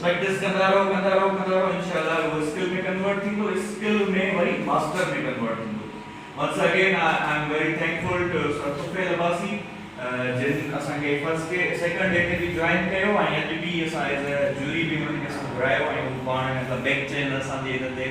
Practice ڪندا رهو ڪندا رهو ڪندا رهو انشاء الله اهو اسڪل ۾ ڪنورٽ ٿيندو اسڪل ۾ وري ماسٽر ۾ ڪنورٽ ٿيندو once again I am very thankful to sir Tufail Abbasi جن اسان کي فرسٽ ڊي سيڪنڊ ڊي تي به جوائن ڪيو ۽ اڄ به اسان ايز اي جوري به انهن کي اسان گهرايو ۽ هو پاڻ ايز اي بيڪ چينل اسان جي هن تي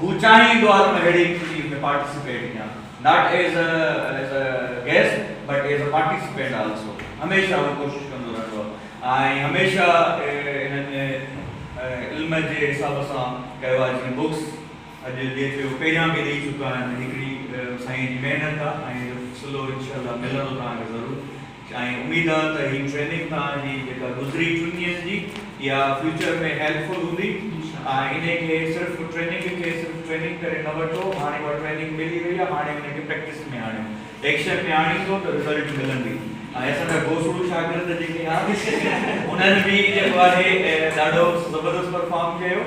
هو چاهيندو آهي ته مان اهڙي ايڪٽوٽي ۾ پارٽيسپيٽ ڪيان، not as a as a guest but as a participant also, هميشه هو ڪوشش ڪندو رهندو آهي ۽ هميشه هنن علم جي حساب سان ڪيو آهي جيئن بڪس اڄ ڏي پيو پهريان به ڏئي چڪا آهن هڪڙي سائين جي محنت آهي ۽ سلو انشاء الله ملندو توهان کي ضرور. سائين اميد آ ته هي ٽريننگ توهان جي جيڪا گذري ٽن ڏينهن جي اها فيوچر ۾ هيلپ فل هوندي ۽ انهي کي صرف ٽريننگ کي صرف ٽريننگ ڪري نه وٺو هاڻي اها ٽريننگ ملي وئي آ هاڻي ان کي پريڪٽس ۾ آڻيو ايڪشن ۾ آڻيندو ته رزلٽ ملندي ۽ اسان جا گوسڙو شاگرد جيڪي آهن انهن به جيڪو آهي ڏاڍو زبردست پرفارم ڪيو.